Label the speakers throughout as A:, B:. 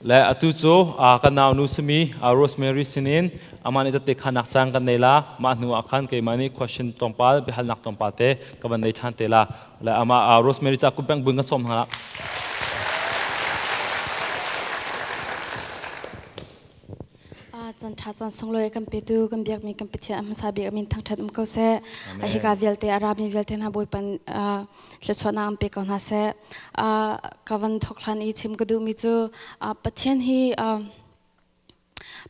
A: Le atu cu kan naunu simi Rosemary sinin amah nih tette khanak caan kan nei la. Mah hnu ah khan keimah nih question tlawmpal biahalnak tlawmpal te ka van nei ṭhan te la. Le amah Rosemary ca kup bengbuin kan sawm hna. Chan ṭha caan sunglawi kan petu kan biakmi kan Pathian a hmasa bik amin thangṭhat um ko seh. Hika vialte a rami vialte hna bawipan thluachuahnak an pe ko hna seh. Ka van thok hlan i chim ka duhmi cu Pathian hi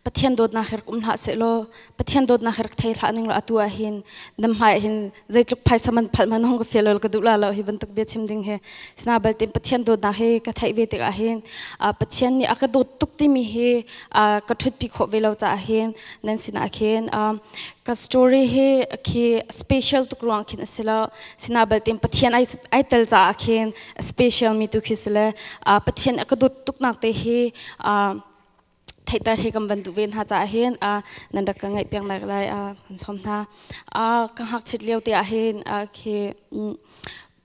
A: Pathian dawtnak her um hlah seh law Pathian dawtnak hi rak thei hlah ning atu ah hin nam hmai hin zeitluk phaisa man phal man hong ka feel ka duh la lo hi bantuk bia chim ding hi sina balte Pathian dawtnak hi ka theih ve tik ah hin Pathian nih a ka dawt tuk timi hi ka thut pi kho ve lo ca hin nan sina khin ka story hi khi special tuk ruang khin asilo sina balte Pathian ai ai tel ca khin special mi tu khi sile Pathian a ka dawt tuk nak te hi theihter hi kan van duh ve hna caah hin a nan rak ka ngaih piak lai lai a kan sawm hna a ka hngakchit lio te ah hin a khi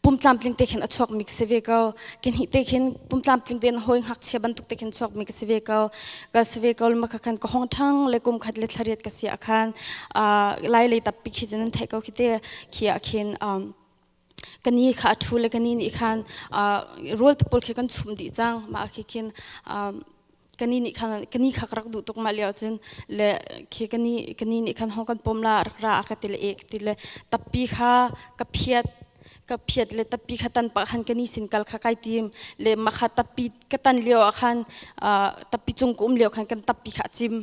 A: pumtlamtling te khin a chuak mi si ve ko kin hi te khin pumtlamtling te hoi hngakchia bantuk te khin chuak mi si ve ko ka si ve ko ma khan ka hong thang le kum khat le thariat ka si akhan a lai le tapi khi jen thai ko khi te khi akhin kan ni kha a thu le kan ni nih khan rawl te pawl khi kan chum dih cang mah khi khin kan ni nih khan kan ni kha ka rak duh tuk mah lio cun le khi kan ni kan ni nih khan hong kan pom la rak ra ka ti le e ka ti le tappi kha ka phiat ka phiat le tappi kha tan pa khan kan ni sin kal kha kai tim le ma kha tappi ka tan lio ah khan tappi cung ka um lio khan kan tappi kha a cim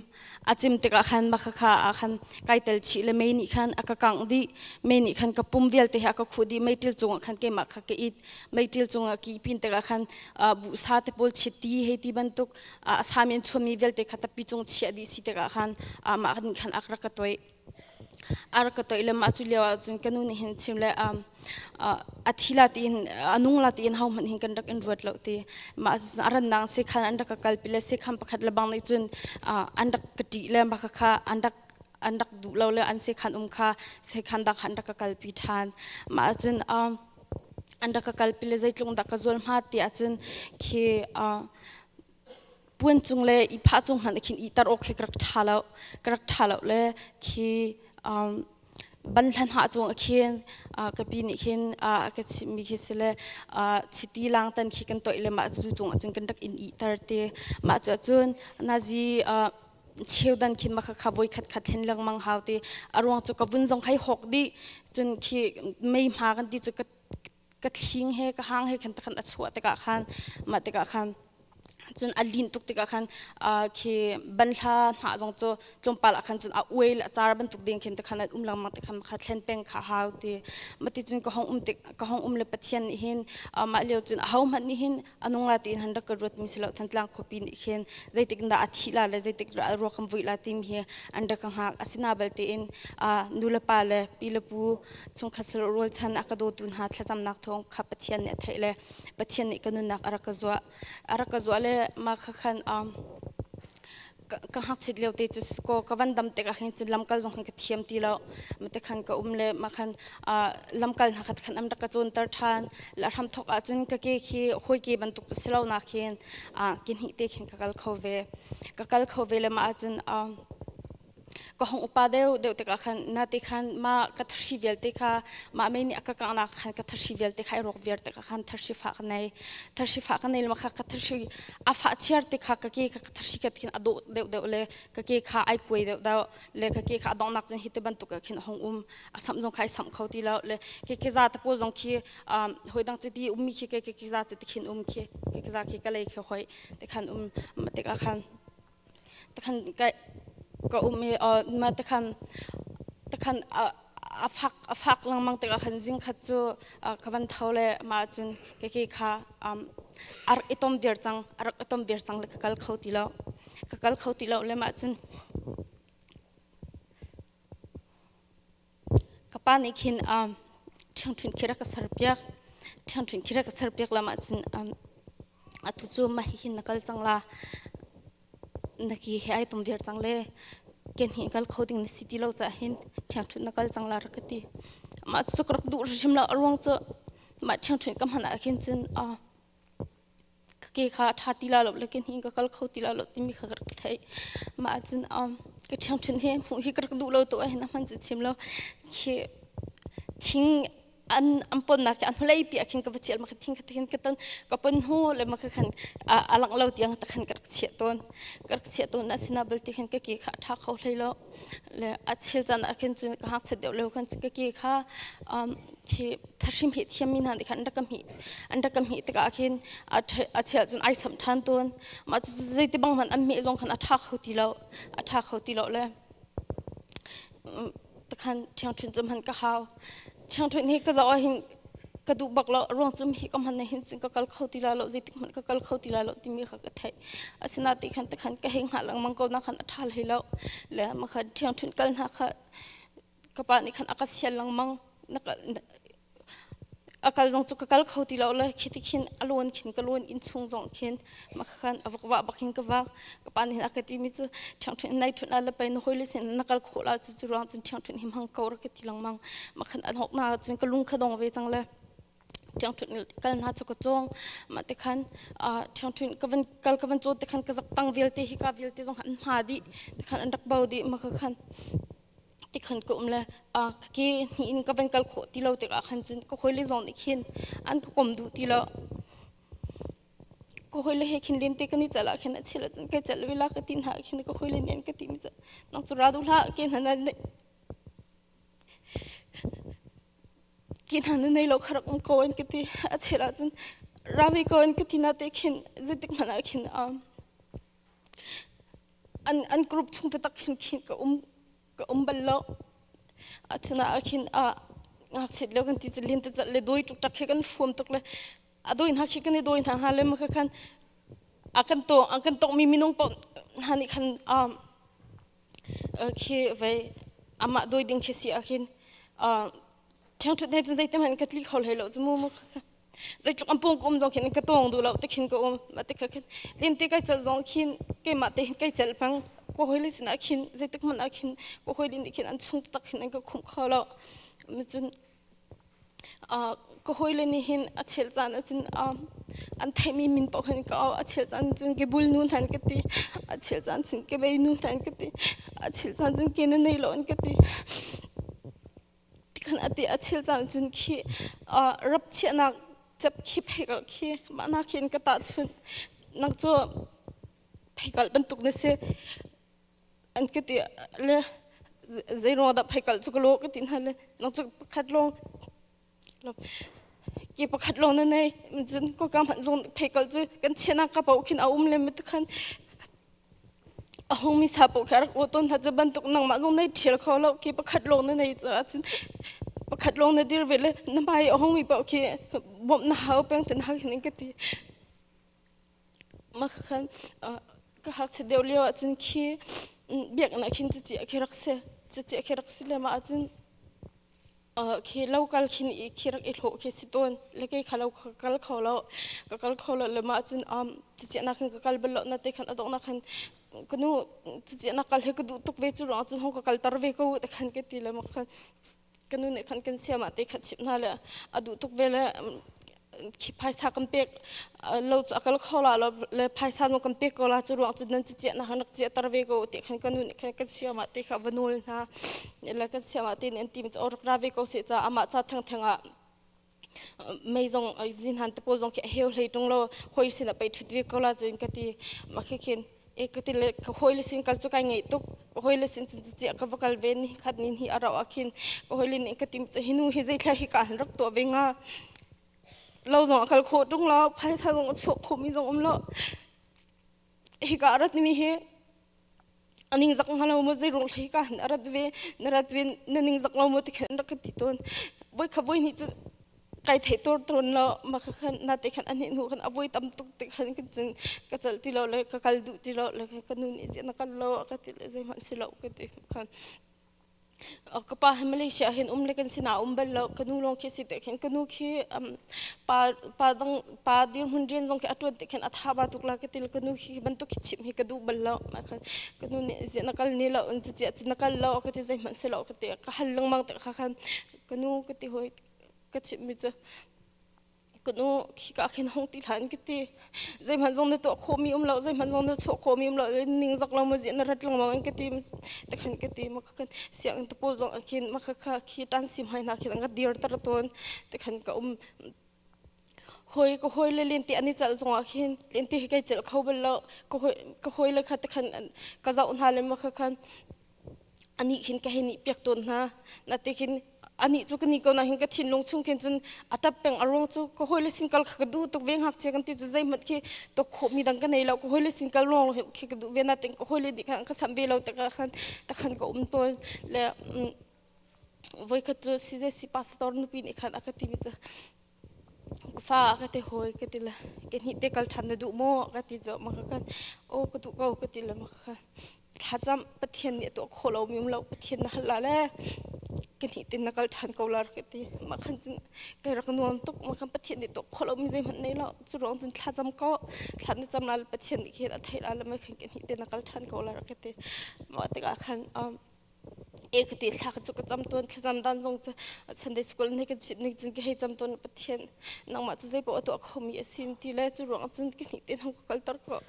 A: a cim tikah khan maka kha ah khan kai tel chih le mei nih khan a ka kangh dih mei nih khan ka pum vialte he a ka khuh dih meiṭil cungah khan keimah kha ka it meiṭil cungah ki pin tikah khan bu sa te pawl chiat ti hei ti bantuk a sa men chuami vialte kha tappi cung chiah dih si tikah khan amah nih khan ak rak ka toih ar ka toih lem acu lio ahcun ka nu nih hin chim le um, uh, a thi la tiin a nung la tiin ho hmanh hin kan rak in ruat lo ti ma ahcun a rannak se khan an rak ka kal pi le se kham pakhat lebang nih cun uh, an rak ka ṭih le ma kha an rak an rak duh lo le an se khan um kha se khan dak an rak ka kal pi ṭhan ma ahcun um, an rak ka kal pi le zeitlung dak ka zual ma ti ahcun khi uh, puan cung le i phah cung hmanh khin ihter awk khi ka rak ṭha lo ka rak ṭha lo le khi um, ban hlan ha chung khin ka pi nih khin ka chimmi khi si le chiti lang tan khi kan toih le mah cu chung ahcun kan rak in ihter te mah cu ahcun nazi cheu dan khin maka kha voi khat khat hlen lengmang hau ti aruang cu ka vun zong hai hawk di cun khi mei hma kan ti cu ka ka thling he ka hang he khan takhan a chuah tikah khan mah tikah khan cun a lin tuk tikah khan khi banhla hna zong cu tlawmpal ah khan cun a uai le a car bantuk ding khin takhan an um lengmang tikhan kha thlen peng kha hau ti mati cun ka hong um tik ka hong um le pathian nih hin mah lio cun a ho hmanh nih hin anung la tein han rak ka ruat mi si lo thantlang khuapi nih khin zeitik dah a thih la le zeitik dah a ruak am vui la timi hi an rak ka hngak asina balte in nu le pa le pi le pu chungkhat salo rual chan a ka dawtu hna thlacamnak thawng kha pathian nih a theih le pathian nih ka nunnak a rak ka zuah a rak ka zuah le mah kha khan ka hngakchit lio te cu ko ka van dam tik ahhin cun lamkal zong hi ka thiam ti lo mate khan ka um le ma khan lamkal hna khat khan am rak ka cunter ṭhan la hram thok ahcun ka ke khi hawi ke bantuk cu si lo nak hin ki hnih te khin ka kal kho ve ka kal kho ve le ma ahcun ka hong upa deuh deuh tikah khan na te khan mah ka thari vialte kha mah mei nih a ka kangnak khan ka thari vialte kha i rok viar tikah khan thari fah ka nei thari fah ka nei lema kha ka thari a fah chiar te kha ka ke ka thari ka khin a dawh deuh deuh le ka ke kha ai kuai deuh deuh le ka ke kha a dongnak cun hi te bantuk khin hong um a sam zong khai sam kho ti lo le ke ke za ta pawl zong khi hoi dang ti ummi khi ke ke za ti khin um khi ke za khi ka lei khi hoi te khan um tikah khan ka um i takhan a fak lengmang tikah khan zingkhat cu ka van tho le mah ahcun keke kha a rak i tom viar cang a rak i tom viar cang le ka kal kho ti lo ka kal kho ti lo le mah cun Ka pa nih khin ṭhingṭhing khi rak ka serpiak. Ṭhingṭhing khi rak ka serpiak lam ahcun atu cu mah hi hin na kal cang la, na ki he ai tum viar cang le kenhnih kal kho ding na si ti lo caah hin ṭhingṭhing na kal cang la rak ka ti. Mah cucu ka rak duh hrimhrim lo. A ruang cu mah ṭhingṭhing ka hman ahkhin cun ka ke kha a ṭha ti la lo le kenhnih in ka kal kho ti la lo timi kha ka rak theih. Mah ahcun ka ṭhiangṭhunh hi hmuh hi ka rak duh lo tuk ahhin a hman cu chim lo. Khi thing an an ponnak hi a hnuleipi ah khin ka va ṭial ma khi thing kha ti khin ka ton. Ka pon hnu le ma kha khan a langh lo tiang ta khan ka rak chiah tawn. Ka rak chiah tawn na sinah belte khin ka ke kha a ṭha kho hlei lo. le a chil chan ah khin cun ka hngakchat deuh leo khan ka ke kha khi thashim hi thiam mi hna nih khan an rak ka hmih an rak ka hmih tikah khin a chel cun ai samh ṭhan tawn mah cu zei ti bang hmanh an hmeh zong khan a ṭha kho ti lo a ṭha kho ti lo le takhan ṭhiangṭhin cum han ka hau changthuin hi ka zawa hin ka duh bak lo ruang cum hi ka hman na hin cun ka kal kho ti la lo zeitik hmanh ka kal kho ti la lo timi kha ka theih asina ti khan te khan ka heng ha langmang ko na khan athal hi lo le ma khan thiangthun kal na kha ka pa ni khan akap sial langmang na akal zong chu ka kal kho ti lo le khitikhin alon khin kalon in chung zong khin makhan avuk wa bakin ka wa ka pa nih aka ti mi chu ṭhangṭhun nai ṭhun ala pai na hoi le sin na kal khola chu chu ruang cun ṭhangṭhun him hang kau ra ka ti lang mang makhan an hok na cun ka lung khadong ve chang le ṭhangṭhun kal na chu ka chong ma te khan ṭhangṭhun ka van kal ka van cho te khan ka zak tang vialte hi ka vialte zong an ma di te khan an rak bao di ma ka khan ti khan ko um le a ke ni in ka van kal kho ti lo te ka khan cun ka khoi le zong ni khin an ka kom du ti lo ka hawile he khin len te kan i chal ah khin a chil cun kai chal ve la ka ti hna khin ka hawile nih an ka ti mi cu nang cu ra duh hlah ke hna na neih ke hna na nei lo kha rak um ko an ka ti a chil ah cun ra ve ko an ka ti na te khin zeitik hmanh ah khin an an group chung te tak khin khin ka um ka um bal lo a chun ah khin a ngakchiat lo kan ti cu len tacat le dawi tuk tak khi kan fuam tuk le a dawi hna khi kan i dawi hna hnga le maka khan a kan to a kan tok mi minung paoh hna nih khan um khi vei amah dawi ding khi si a khin ṭheng ṭhut ne cun zeitim han ka tli kho hlei lo cu mu mu zeitluk an pung ka um zong khin ka tawng duh lo te khin ka um ma te kha khin lin te kai cel zong khin keimah te kai cel pang ko hoi li sin ah khin zeitik man ah khin ko hoi lin khin an chung tak khin an ka khum kho lo cun ka hoi le ni hin a chel caan ah cun an theihmi min paoh hin ka a chel caan cun ke bul nu nan ka ti a chel caan cun ke bei nu nan ka ti a chel caan cun ke na nei lo an ka ti tikhan ate a chil caan cun khi rap chiahnak cep khi pheikalh khi mahna khin ka ta chun nak cu pheikalh bantuk na si an ka ti le zeiro da pheikalh chu ka lo ka ti hna le nak chu pakhat long ki pakhat long na nei cun ko ka man zong pheikalh chu kan chiana ka pau khin a um le mit khan a hung mi sa poh kha rak aw tawn hna cu bantuk nangmah zong nei ṭhial kho lo khi pakhat lawng na nei caah cun pakhat lawng na dir ve le na hmai a hung mi poh khi bawmh na hau peng te na hau hin ka ti mah khan ka hngakchiat deuh lio ahcun khi biaknak hin cuci a khi rak si cuci a khi rak si le mah ahcun khi lo kal khin i khi rak i hlawh khi si tawn le kei kha lo ka kal kho lo ka kal kho lo le mah cun um cicia nak khan ka kal bal lo na te khan adok nak khan kanu cicia nak kal he ka duh tuk ve cu rong cun hong ka kal tar ve ko te khan ke ti le mak khan kanu nih khan kan sia ma te khat chip na le a duh tuk ve le phaisa kan pek lo a kal kho la lo le phaisa no kan pek ko la cu ruang cu nan ci ciah na han rak ciah tar ve ko ti khan kanu nih khan kan siam ah te kha vanul hna le kan siam ah te nen tim cho rak ra ve ko se cha ama cha thang thang a mei zong zin han te po zong khi heu hlei tung lo hoi sin a pei thut ve ko la cun ka ti ma khi khin e ka ti le ka hawile sin kal cu kai ngei tuk ka hawile sin cun ciciah ka va kal ve ni khat ni hi a rauh ah khin ka hawile nih ka tim ca hi nu hi zeitlai hi ka han rak tuah ve hnga lo zong a kal khawh ṭung lo phaisa zong a chuak khomi zong um lo hika a rat mi hi a ning zak hnga lo maw zeirung hlei ka han a rat ve na rat ve na ning zak lo maw ti khin rak ka ti tawn voi kha voi hnih cu kai thei tur tawn lo ma kha khan na te khan ani nu khan a vui tam tuk ti khan kan cun ka chal ti lo le ka kal duh ti lo le ka nu nih zian kal lo ka ti le zei hmanh si lo ka ti khan ka pa he Malaysia hin um le kan sina um bal lo ka nu long khi si te khin ka nu khi pa pa dang pa dir hun rin zong khi a tuan te khin a tha ba tuk la ka til ka nu khi bantuk khi chim hi ka du bal lo ma khan ka nu nih zian kal ni lo in chi na kal lo ka ti zei hmanh si lo ka ti ka hal lang mang te kha khan ka nu ka ti hoi ka chimmi cu kanu khika khin hong ti hlan kiti zeihman zong na tuah khomi um lo zeihman zong na chuah khomi um lo ning zak lo ma zi na rat lengmang in kati te khan kati ma kha kan siang to pol zong khin ma kha kha khi tan sim hai na khin anga dir tar ton te khan ka um hoi ko hoi le len ti ani chal zong a khin len ti kai chal kho bal lo ko hoi ko hoi le kha te khan ka zau na le ma kha khan anih khin ka hin ihpiak tawn hna natikhin anih cu ka ni ko nahin ka thinlung chung khin cun a tap peng a ruang cu ka hawile sinkal kha ka duh tuk ve ngakchia kan ti cu zeihmanh khi to khawhmi dang ka nei lo ka hawile sinkal lawng khi ka duh ve natin ka hawile nih khan ka sam ve lo takah khan takhan ka um tawn le voikhat cu si je si pasator nupi nih khan a ka timi cu Fa ka ti hawi ka ti le ke hnih te kal ṭhan na duh maw? ka ti cawk ma ka kan aw ka duh ko ka ti le ma ka kan thlacam Pathian nih a tuah khawh lomi um lo Pathian na hal la le ke hnih te na kal ṭhan ko la ka ti mah khan cun kai rak nuam tuk mah khan Pathian nih tuah khawh lomi zeihmanh nei lo cu ruang cun thlacam ko thla na cam la le Pathian nih khin a theih la le mei khan ke hnih te na kal ṭhan ko la ka ti mah tikah khan e kati thla ka chu ka cham tuan thlazam dan zong chu sunday school ne kan chit ning cun ka hei cham tuan pathian nangmah chu zeipaoh atu kho mi a sin ti le chu ruang cun ka ni te nang ka kal tar ko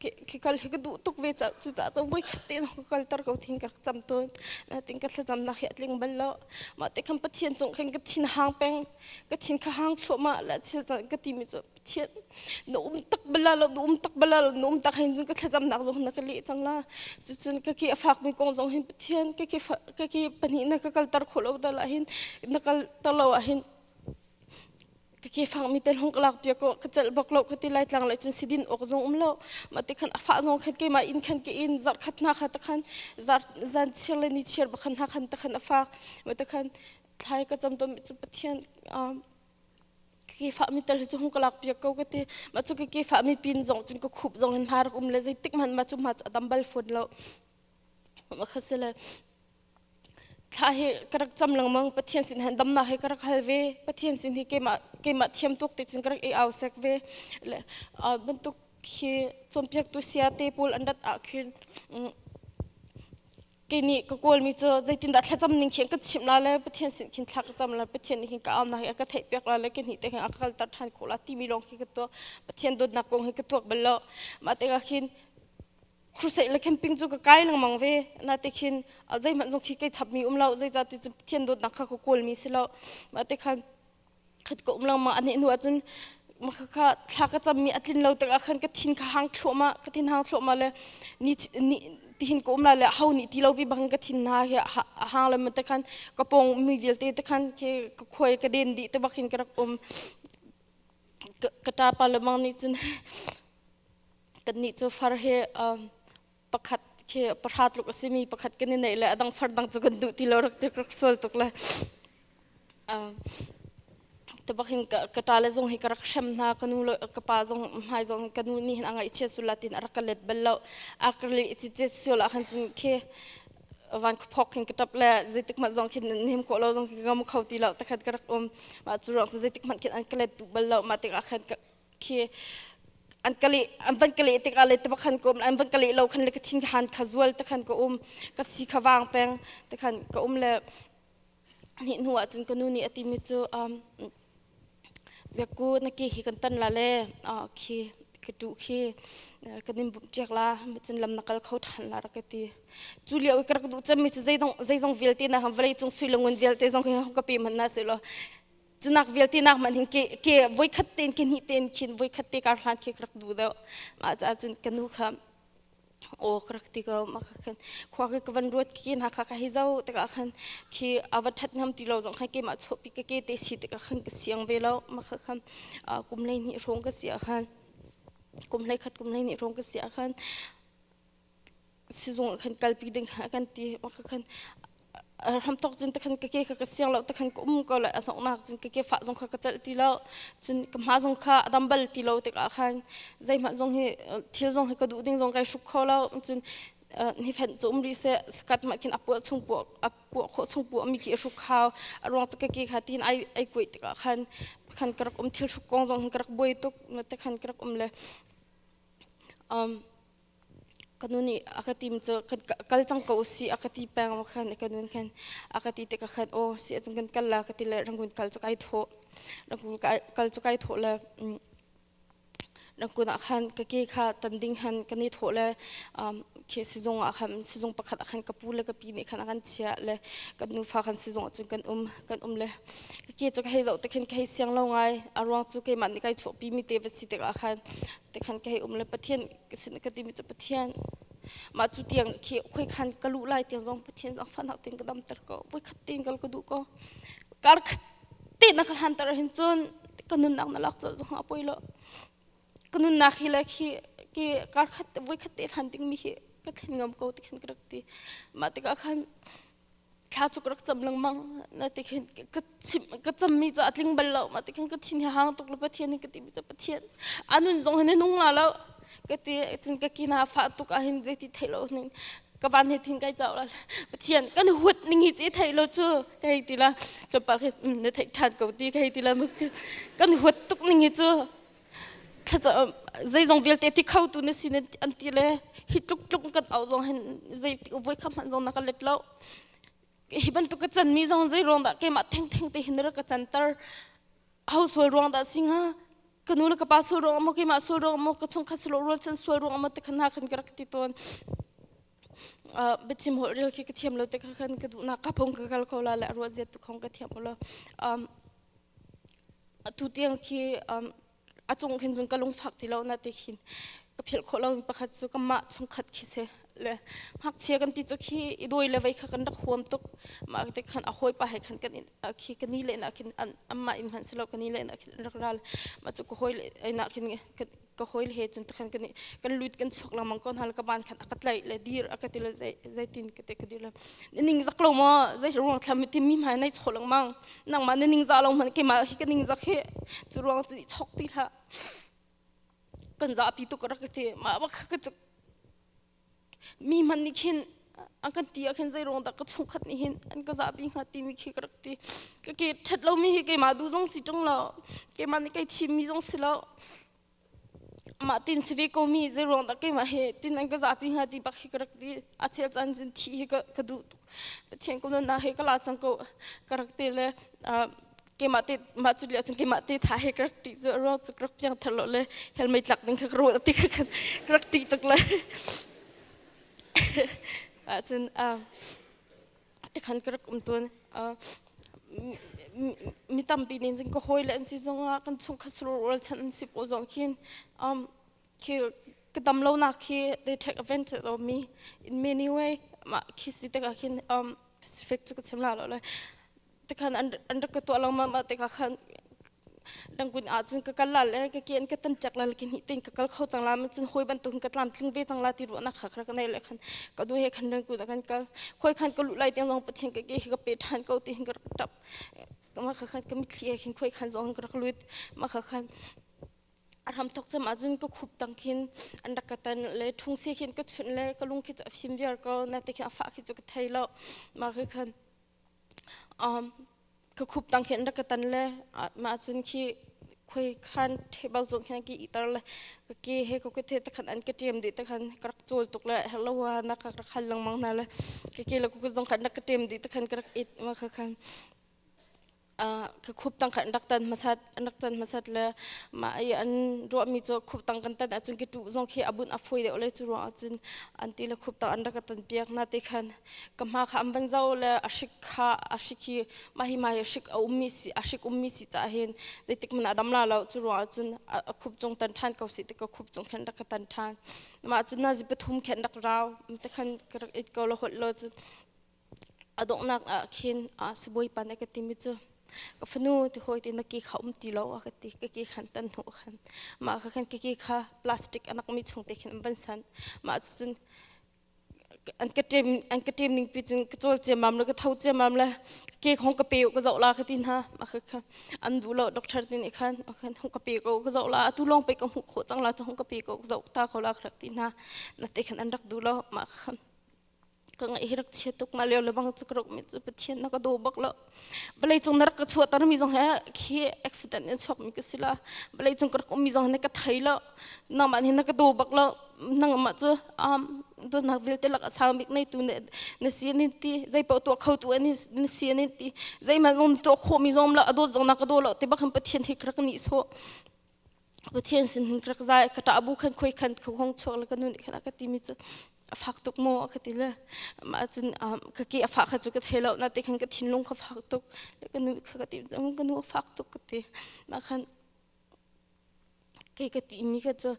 A: ke kal he ka du tuk ve cha chu cha chang voi khat te nang ka kal tar ko thing ka cham tuan na ting ka thlazam nak he atling bal lo ma te kham pathian chung khan ka thin hang peng ka thin kha hang thlo ma la chil ka ti mi chu thian na um tak bala lo na um tak bala lo na um tak hin ka thlazam nak zong na ka le chang la chu chun ka ki afak mi kong zong hin pathian ka ki ka ki pani na ka kal tar kho lo ta la hin na kal tar lo a hin ka ke fang mi ten hong kalak pia ko ka chal bok lo ka ti lai tlang lai chun sidin ok zong um lo ma te khan afa zong khan ke ma in khan ke in zar khat na kha ta khan zar zan chir le ni chir bakhan ha khan ta khan afa ma te khan thlai ka cham to pathian kikifah mi tal cu hung ka lak piak ko ka ti ma cu kikifah mi pin zong cun ka khup zong in hna rak um le zeitik hmanh ma cu ma cu adam bal phun lo ma kha si le thla hi ka rak cam lengmang pathian sin hen damna he ka rak hal ve pathian sin hi keimah keimah thiam tuk te cun ka rak i au sek ve le bantuk hi cawmpiaktu sia te paul an rat ah khin kei nih ka kawlmi cu zeitindah thlacam ning khin ka chimh la le pathian sin khin thlak cam la pathian nih hin ka am na hi ka theihpiak la le ke ni te hin a kalter than ko la timi lawng khi ka tuak pathian dawtnak kong hi ka tuak bal lo mah te ka khin khursaih le camping cu ka kai lengmang ve na te khin zei hmanh zong khi kai chap mi um lo zei zati cu pathian dawtnak kha ka kawl mi si lo mah te khan khat ko um langmah a hneh hnu ahcun kha thla ka cammi a tlin lo tikah khan ka thin kha hang thluahmah ka thin hang thluahmah le ni ni tihin ka um la le ho nih ti lo bi bangin ka thin hna hi a hang le mata khan ka pong mi vialte te khan ke ka khuai ka den di te bakin ka rak um ka ta pa le mang nih cun kan nih cu far he pakhat khi pahra tluk a simi pakhat kan i neih le a dang far dang cu kan duh ti lo rak ti rak sual tuk le tubak hin ka ta le zong hi ka rak hrem hna ka nu ka pa zong hmai zong ka nu nih hin anga ichia sula tin arak ka let bal lo akar le ichiche sual ah khan cun khi van khphok hin ka tap le zeitik mat zong khin nem ko lo zong ngam kho ti lo takhat ka rak um ma chu rong chu zeitik mat khin an ka let tu bal lo ma tik ah khan khi an kale an van kale tik ah le te khan ko an van kale lo khan le kathin han kha zual te khan ka um ka si kha wang peng te khan ka um le ni hnu ah cun ka nu nih ati mi cu biaku naki hi kan tan la le khi ka tu khi kan in bumh tiak la cun lam na kal kho than la rak ti cu liao ka rak du cem mi zeidong zeidong vialte na ham vlei cung sui lungun vialte zong ka pe man na se lo cunak vialte nak man hin ke ke voi khat ten ke hnih ten khin voi khat te kar hlan ke rak du deu ma cha cun kanu kha o krak ti ko ma kha khan khwa ke kavan ruat ki na kha ka hi zau te ka khan khi awa that nam ti lo zong khan ke ma cho pi ke ke te si te ka khan ka siang ve lo ma kha khan kum lei ni rong ka sia khan kum lei khat kum lei ni rong ka sia khan sizung ah khan kalpi ding kha kan ti ka khan hramtok cun takhan ka ke kha ka siang lo takhan ka um ko le anoknak cun ka ke fah zong kha ka celh ti lo cun ka hma zong kha adam bal ti lo tikah khan zeihmanh zong hi thil zong hi ka duh ding zong kai hruk kho lo cun hi phen cu um rih se sakat ma khin apuah chung puah apuah kho chung puah mi ki hruk khao aruang chu ka ke kha tin ai ai kuai tikah khan khan karak um thil hruk kong zong hi karak buai tuk te khan karak um le um ka nu nih a ka tim cu kal cang ko usih a ka ti peng aw khan ka nun khan a ka ti te ka khan aw si acung kan kal la ka ti le rangkun kal cu kai thawh rangkun kal cu kai thawh le rangkun ah khan ka ke kha tan ding han ka ni thawh le khi sizung ah khan sizung pakhat ah khan ka pu le ka pi nih khan a kan chiah le kan nufa khan sizung ah cun kan um kan um le ka ke cu ka hei zoh te khin ka hei siang lo ngai a ruang cu keimah nih kai chuahpi mi te va si tikah khan Tekhan ka hei um le Pathian ka sin ka timi cu Pathian mah cu tiang khi khoi khan ka lu lai tiang zong Pathian zong fanak tin ka dam ter ko voi khat tin kal ka du ko kar khat ti na ka hlan tar hin cun ka nun nak na lak zo zong ha poi lo ka nun nak hi le khi ki kar khat voi khat te hlan ding mi hi ka thlen ngam ko tikhan ka rak ti mah tikah khan thla cu rak cam lengmang na ti khin ka ka cammi ca a tling bal lo ma ti khin ka thin hi hang tuk le pathian ka ti mi ca pathian anun zong hin nung la lo ka ti cun ka kina fa tuk ah hin zei ti thei lo ning ka van he thin kai chau la pathian kan huat ning hi chi thei lo chu ka hei ti la chopal hi na theih than ko ti ka hei ti la kan huat tuk ning hi chu zeizong vialte ti khotu na sin an ti le hi tluk tluk kan au zong hin zei ti voi kham hman zong na ka let lo hi bantuk ka chan mi zong zei ruang dah keimah theng theng te hin ra ka chan tar household ruang dah singa ka nu le ka pa sul ruang mo keimah sul ruang mo ka chung kha silo rual chan sual ruang mo te khana khan ka rak ti ton biachim holh ril khi ka thiam lo te kha khan ka duhnak ka phung ka kal ko la le ruah ziat tu khong ka thiam lo atu tiang khi a cung khin cun ka lung fak ti lo na te khin ka philh khawh lo mi pakhat cu ka mah chung khat khi se le hak chia kan ti chu khi i doi le vei kha kan rak huam tuk ma te khan a hoi pa he khan kan khi ka ni le na khin amma in hman si lo ka ni le na khin rak ral ma chu ka hoi le na khin ka hoil he cun takhan kan kan lut kan chuk lamang ko hna le ka ban khan aka tlaih le dir aka ti le zei zei tin ka te ka dir le ning zak lo mo zei ruang thlam ti mi ma nai chol mang nang ma ning za lo man ke ma hi ka ning zak he chu ruang chi chok ti la kan za pi tu ka ra ka te ma ba ka mi hman nih khin a kan ti ah khin zeiruang dah ka chungkhat nih hin an ka zahpi hnga timi khi ka rak ti ka ke ṭhat lomi hi keimah duh zong si ṭung lo keimah nih kei thimmi zong si lo mah tin si ve ko mi zeiruang dah keimah he tin an ka zahpi hnga ti bak hi ka rak ti a chel caan zin thih hi ka duh tuk Pathian ku nun he ka la chang ko ka rak te le keimah te mah cu liah chang keimah te tha he ka rak ti zu ro chu rak piang thar lo le helmei tlak ding kha ro ti kha rak ti tuk le cun te khan ka rak um tun mi tampi nin jing ka hoi le an si zong ah kan chung khasur wal chan an si po zong khin khi ka dam lo nak khi they take advantage of me in many way ma khi si te ka khin um pacific chu ka chim la lo le te khan an an ka to lo ma ma te ka khan dang kun a chun ka kal la le ka kian ka tan chak la lekin hi tin ka kal kho chang la ma chun hoi ban tun ka tlam tling ve chang la ti ro na khak ra ka nei le khan ka du he khan dang kun kan kal khoi khan ka lu lai tiang zong pathin ka ke ka pe than ko ti hin ka tap ma kha khan ka mitthli he khin khoi khan zong ka rak lut ma kha khan a hramthok cam ahcun ka khup tang khin an rak ka tan le thungse khin ka chunh le ka lung khi cu a fim viar ko na te khi a fah khi cu ka thei lo mah khi khan um ka khup tang khin rak ka tan le mah cun khi khoi khan table zong khin ki itar le ka ke he ko ka the takhan an ka tiam de takhan ka rak chol tuk le hello wa na ka rak hal lang mang na le ka ke le ko zong khan rak ka tiam de takhan ka rak it ma kha khan ka khup tang khan rak tan masat rak tan masat le ma ai an ro mi cho khup tang kan tan achun ki tu zong khi abun afoi de ole chu ro achun anti le khup tang an rak tan piak na te khan ka ma kha am van zau le ashik kha ashik hi ma hi ma hi ashik a ummi si ashik ummi si ta hin dei tik mana dam la lo chu ro achun a khup chong tan than ko si te ka khup chong khan rak tan than ma achun na zi pathum khan rak raw te khan ka rak it ko lo hot lo chu A donghnak ah khin ah sibawi pa nih ka timi cu ka fanu ti hawi ti na ki kha um ti lo a ka ti ka ki khan tan hnu khan mah kha khan ka ki kha plastic anak mi chung te khin an van san mah cu cun an ka ṭem an ka ṭem ning pi cun ka cawl ciamam le ka tho ciamam le ke khong ka pe u ka zoh la ka ti hna mah kha kha an duh lo doctor ti nih khan mah khan hung ka pe ko ka zoh la tu lawng pei ka hmuh khawh cang la cu hung ka pe ko ka zoh ta kho la ka rak ti hna na te khan an rak duh lo mah kha ka ngaih hi rak chia tuk ma leo lebang chu ka rok mi chu pathian na ka do bak lo balai chung na ka chua tar mi jong he khi accident in chok mi ka sila balai chung ka kum mi jong ne ka thai lo na man hi na ka do bak lo nang ma chu um do nak vil te lak asang bik nei tu ne na si ni ti zai pa to kho tu ani na si ni ti zai ma gom to kho mi jom la ado jong na ka do lo te bakham pathian hi krak ni so Pathian sin hin krak zai ka ṭah bu khan khoi khan khong chuak le ka nun khan a ka ti mi cu a fak tuk maw a ka ti le mah cun ka ke a fah kha cu ka thei lo na te khan ka thinlung kha fak tuk ka nu kha ka ti ka nu a fak tuk ka ti mah khan kei ka ti mi kha cu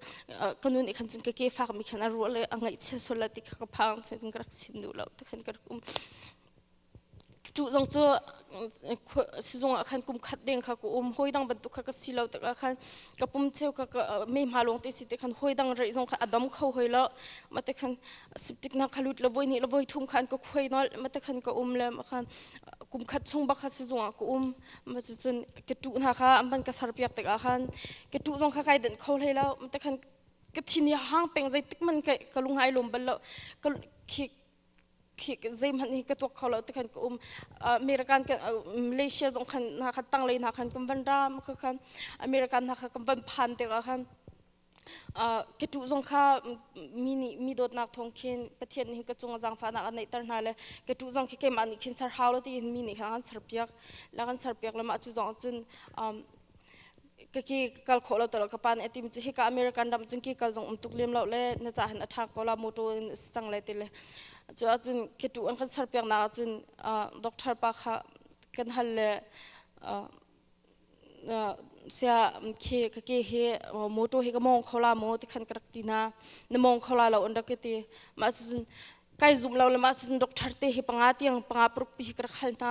A: ka nu nih khan cun ka ke fak mi khan a ruah le a ngaihchia sual la ti kha ka phang cun ka rak sim duh lo te khan ka rak um Cu zong cu sizung ah khan kum khat deng kha ka um hawi dang bantuk kha ka si lo tak ah khan ka pum cheu kha ka me hma lawng te si te khan hawi dang rei zong kha a dam kho hoi lo ma te khan siptik na kha lut la voi ni la voi thum khan ka khuai nol ma te khan ka um le ma khan kum khat chung bak kha sizung ah ka um ma cu cun ka tu hna kha an ban ka sar piak tak ah khan ka tu zong kha kai den kho hlei lo ma te khan ka thin hang peng zeitik man ka lungai lom bal lo ka zeihmanh hi ka tuak kho lo tikhan ka um American Malaysia zong khan hna khan tanglei hna khan kan van ra kha khan American hna kha kan van phan te ka khan ketu zong kha mi nih mi dawtnak thawng khin pathian nih ka cung zangfahnak a neihter hna le ketu zong khi keimah nih khin ser hau lo tiin mi nih khan an ser piak la kan ser piak le mah cu zong cun kaki kal kho lo talo ka pa nih atim hika American ram cun ki kal zong um tuk lem lo le na cha hin athak ko la motor in sang le tile chu cun kitu an kan serpiak na cun doctor pa kha kan hal le sia khi kaki hi motor hi ka mong kho la mo ti khan ka rak ti na na mong kho la lo an rak ti ma cun kai zum lo le ma cun doctor te hi panga tiang panga paruk pi ka rak hal na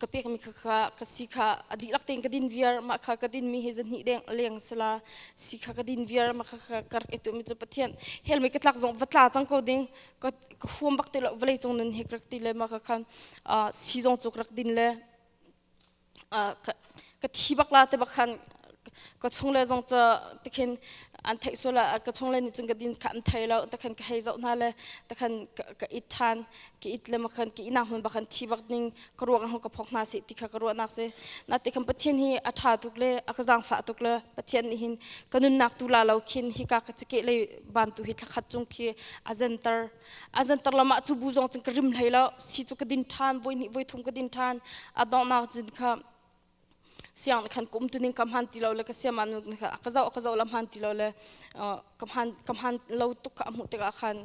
A: ka pekmi kha kha ka si kha a dihlak tein ka din viar mah kha ka dinmi he zan hnih deng leng sala si kha ka din viar mah kha ka rak etumi cu pathian helmei ka tlak zong va tla cang ko ding ka huam bak te lo vale cung nun he ka rak ti le mah kha khan si zong cu ka rak din le ka thi bak la te bak khan ka chung le zong ca tikhin an theih suala ka chung le nih cun ka din kha an thei lo takhan ka hei zoh hna le takhan ka it ṭhan ka it le makhan ka ina hun bakhan thi bak ning ka ruang hong ka phok hna se ti kha ka ruahnak se na tikhan pathian hi a ṭha tuk le a ka zang fa tuk le pathian nih hin ka nunnak tu la lo khin hi ka ka cike le ban tu hi thlakhat chung khi a zentar azantar lama cu bu zong cun ka rim hlei lo si cu ka din ṭhan voi hnih voi thum ka din ṭhan adonghnak cun kha siang khan kum tuning kam han ti lo le ka siama nu kha ka zau ka zau lam han ti lo le kam han kam han lo tuk ka hmuh tikah khan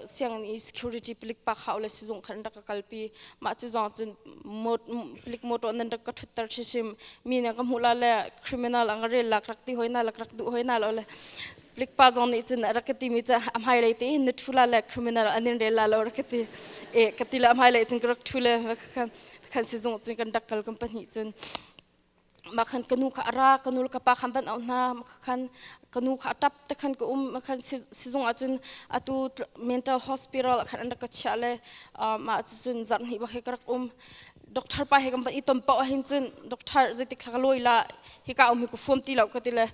A: sianginn i security pilik pa khao le sizung khan rak ka kalpi mah cu zong cun pilik motor nan rak ka ṭhutter chisim mi ne ka hmuh la le criminal ang rel lak rak ti hoi na lak rak duh hoi na lo le likpa zong nih cun a rak ka ti mi cu a hmailei te hin na ṭhula le criminal an in rel la lo rak ka ti e ka ti le a hmailei cun ka rak ṭhu le khan khan sizung cun kan rak kal kan pahnih cun ma khan kanu kha ara kanu le kapa khan van au hna ma khan kanu kha atap te khan ka um ma khan sizung ah cun atu mental hospital khan an rak ka chia le ma cun zarhni ba he ka rak um doctor pa he kan van i ton pa hin cun doctor zeitik thla ka loi la hi ka um hi ku fuam ti lo ka ti le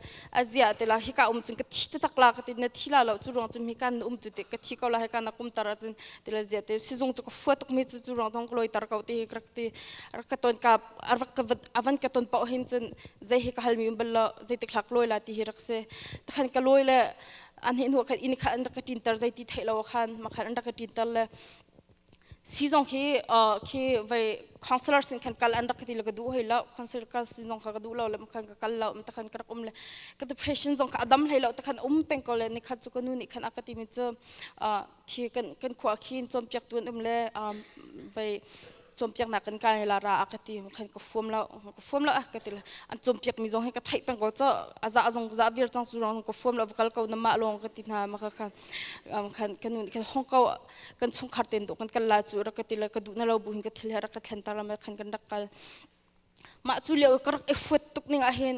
A: azia te la hi ka um cun ka thi te tak la ka ti na thi la lo chu rong cun mi kan um tu te ka thi ko la he ka na kum tar cun ti le zia te sizung chu ka fuat tuk mi chu chu rong dong loi tar ko ti hi rak ti rak ka ton ka arak ka avan ka ton pa hin cun zei hi ka hal mi bal lo zeitik lak loi la ti hi rak se takhan ka loi le an hin hu khat in kha an rak ka tin tar zei ti thei lo khan ma khan an rak ka tin tar le si zong khi khi vai councillor sin khan kal an rak ka ti le ka duh hei lo councillor sin zong kha ka duh lo le khan ka kal lo ta khan ka rak um le ka depression zong ka adam hlei lo ta khan um peng ko le ni khat chu ka nu nih khan aka ti mi chu khi kan kan khua khin chom piak tuan um le vai chompiak nak kan kai la ra ka ti khan ka fuam lo ka fuam lo ah ka ti la an chompiak mi zong hi ka thai peng ko cho aza azong za vir chang su rong ka fuam lo kal ko na ma long ka ti na ma ka khan khan kanu khan hong ko kan chungkhar ten do kan kal la chu rak ka tila ka du na lo bu hin ka thil rak ka thlen tar lam khan kan rak kal ma chu leo ka rak efuat tuk ning a hin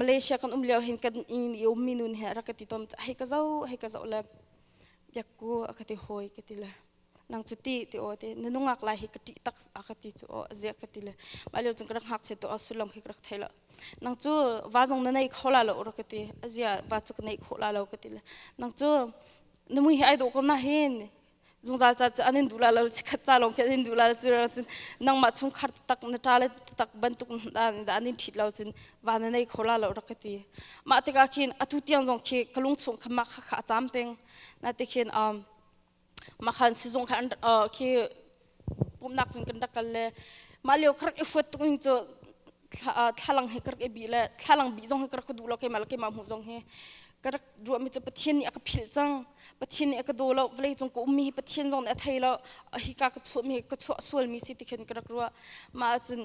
A: Malaysia kan um leo hin kan ing ni um minun he rak ka ti tom hei ka zo hei ka zo le yakku a ka ti hoi ka ti la nang cu ti ti o te na nungak lai hi ka ṭih tak a ka ti chu o zia ka ti le ma leo cun ka rak hak che to a sulong hi ka rak thei lo nang cu va zong na nei kho la lo ro ka ti a zia va cu ka nei kho la lo ka ti le nang cu na mui hi ai do ko na hin zungzal ca cu anin du la lo chi khat ca lawng khi anin du la chu cun nangmah chung khar tak na tra le tak bantuk da anin thit lo cun va na nei kho la lo rak ka ti mah tikah khin atu tiang zong khi ka lung chung kha mah kha kha a cam peng na ti khin um Makhan sizung kha khi pumnak cun kan rak kal le mah lio ka rak i huat tuk ning cu thlalang he ka rak i bih le thlalang bih zong hi ka rak ka duh lo keimah le keimah hmuh zong hi ka rak ruahmi cu Pathian nih a ka philh cang Pathian nih a ka daw lo vawlei cung ka ummi hi Pathian zong nih a thei lo a hika ka chuahmi hi ka chuah sualmi si ti khin ka rak ruah mah ahcun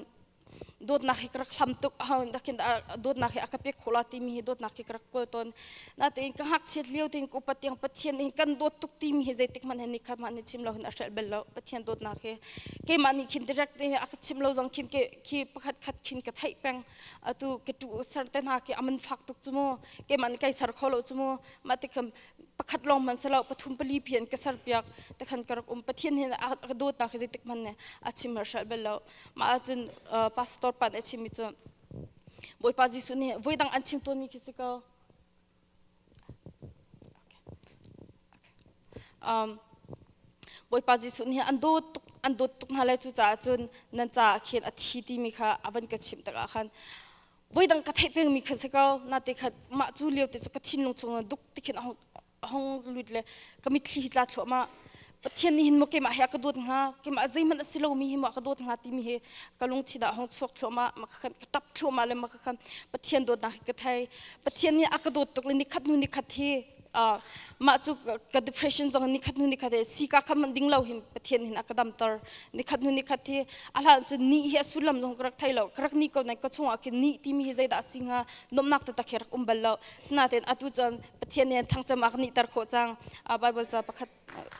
A: dawtnak hi ka rak hlam tuk dakin dawtnak hi a ka pek khula timi hi dawtnak hi ka rak kul ton natein ka hngakchiat lio tin ko patiang pathian in kan dawt tuk timi hi zeitik man hen nikhat man ni chim lo hun a hrel bel lo pathian dawtnak hi keimah nih khin direct hi a ka chim lo zong khin ke khi pakhat khat khin ka thai peng atu ke tu sar te na ke aman fak tuk chumo keimah nih kai sar kho lo chumo ma te kham pakhat long man selo pathum pali phian ka sar piak te khan karok um pathian hin a dawt na khi zeitik man ne a chim har shal bel lo mah ahcun pastor pan a chimmi cu bawipa jesuh nih voidang an chim tawnmi khi si ko bawipa jesuh nih an dawt tuk an dawt tuk hna lai cucaah cun nan caah khin a thi timi kha a van ka chimh takah khan voidang ka theih pengmi khan si ko nate khat mah cu liote cu ka thinlung chung duk tikhin hong lut le ka mitthli hi tla thluahma pathian nih hin mo keimah he a ka dawt hnga keimah zeihmanh a si lomi hi mo a ka dawt hnga timi hi ka lungthin ah hong chuak thluahma ma ka khan ka tap thluahma le ma ka khan pathian dawtnak hi ka thei pathian nih a ka dawt tuk le nikhat hnu nikhat hi mah cu ka depression zong nikhat hnu nikhat si ka kha man ding lo hin pathian hin a ka damter nikhat hnu nikhat hi a hlan cu ni hi a sullam zong ka rak thei lo ka rak ni ko nain ka chungah khin ni timi hi zeidah a si hnga nomnak te tak hi rak um bal lo sinaten atu cun Pathian nih an thangcam a kan nihter khawh cang. Uh, Bible ca pakhat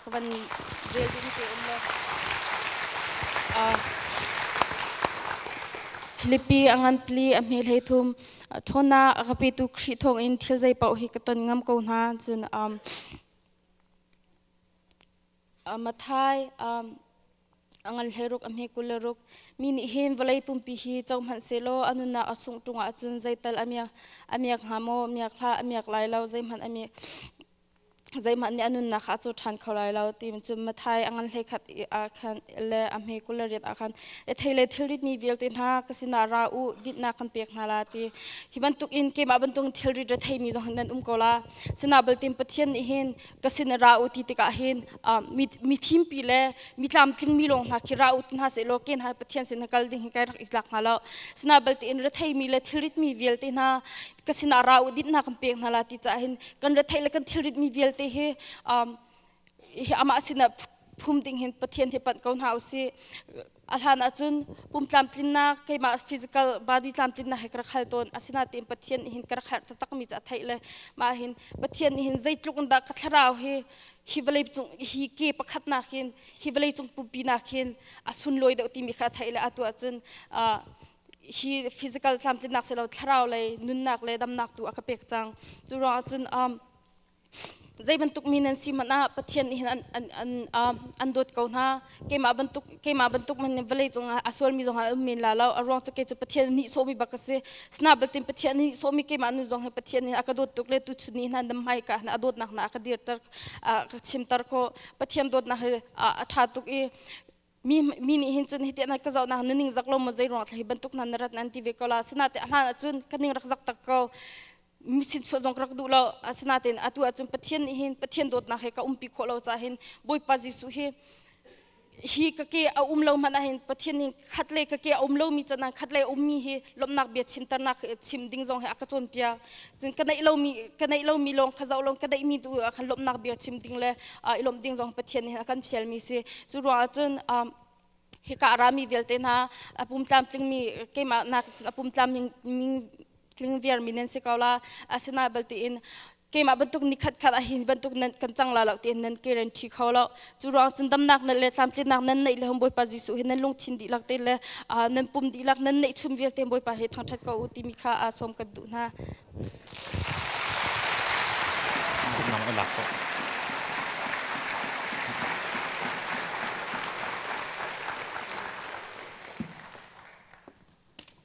A: ka van rel ding te um le. Uh, Philippi a ngan pli a hme hlei thum thona a ka petu Khrih thong in thil zei pau hi ka ton ngam ko hna cun um Mathai a ngan hlei ruk a hme kul le ruk. Mi nih hin vawlei pumpi hi co hmanh sehlaw a nunnak a sungh ṭung ahcun zeital a miak, a miak hnga maw? A miak hlah, a miak lai lo. Zeihmanh a mi, zeihmanh nih a nunnak kha a cu ṭhan kho lai lo. Tiin cun Mathai a ngan hlei khat ahkhan le a hme kul le riat ahkhan rethei le thilrit mi vialte hna ka sinah ra u, dinhnak kan pek hna la ti. Hi bantukin keimah bantukin thilrit rethei mi zong nan um ko la. Sinabatin Pathian nih hin ka sin i ra u ti tikah hin mi thimpi le mi tlamtlingmi lawng hna khi ra u ti hna seh law ken hai Pathian sin kal ding hi kai rak i tlak hnga lo sina balte in retheimi le thilritmi vialte hna ka sinah ra u dinhna kan pek hna la ti caah hin kan retheih le kan thilritmi vialte hi amah sinah phum ding hin Pathian hi panh ko hna usih A hlan ahcun pumtlamtlinnak keimah physical body tlamtlinnak he ka rak hal tawn. Asinain Pathian nih hin ka rak herh taktakmi cu a theih le mah hin Pathian nih hin zeitluk in dah ka thlarau hi hi vawlei cung hi ke pakhat nakin hi vawlei cung pumpi nakin a sunlawi deuh timi kha a theih le atu ahcun hi physical tlamtlinnak silo thlarau lei nunnak le damnak tu a ka pek cang. Cu ruangah cun zei bantuk mi nan si hmanh ah Pathian nih hin an an an an dawt ko hna keimah bantuk keimah bantuk man vawlei cung ah a sual mi zong ah um men la lo a ruang cu kei cu Pathian nihsawh mi bak a si snabel tin Pathian nihsawh mi keimah nu zong hi Pathian nih a ka dawt tuk le tu chun ni hna dam mai ka hna a dawtnak hna a ka dir ter a ka chim ter ko Pathian dawtnak hi a tha tuk i mi mi nih hin cun hiti anat ka zoh na nuning zak lo maw zei ruang thlahi bantuk nan rat nan ti ve ko la asina te ahlan ahcun ka ning rak zak tak ko mi sin chuah zong rak duh lo asina te atu ahcun pathian nih hin pathian dawtnak he ka umpi khawh lo ca hin bawipa jesuh hi hi ka ke a um lo man ahin pathian hin khat le ka ke a um lo mi chan khat le um mi hi lomnak bia chimternak chim ding zong he aka cawn pia cun ka neih lomi ka neih lomi lawng ka zoh lawng ka neihmi tu ah khan lawmhnak bia chim ding le ah i lawmh ding zong Pathian nih a kan fialmi si cu ruangah cun um, hika arami vialte hna a pumtlamtlingmi keimah nak cun a pumtlamling tling viarmi nan si ko la asina balte in keimah bantuk nikhat khat ah hi bantuk nan kan cang la lo tiin nan guarantee kho lo Cu ruang cun damnak nan le tlamtlinnak nan neih le hom Bawipa Jesuh hi nan lungthin dihlak te le nan pum dihlak nan neih chun vialte Bawipa he thangṭhat ko u timi kha sawm kan duh hna. Nang a lak ko.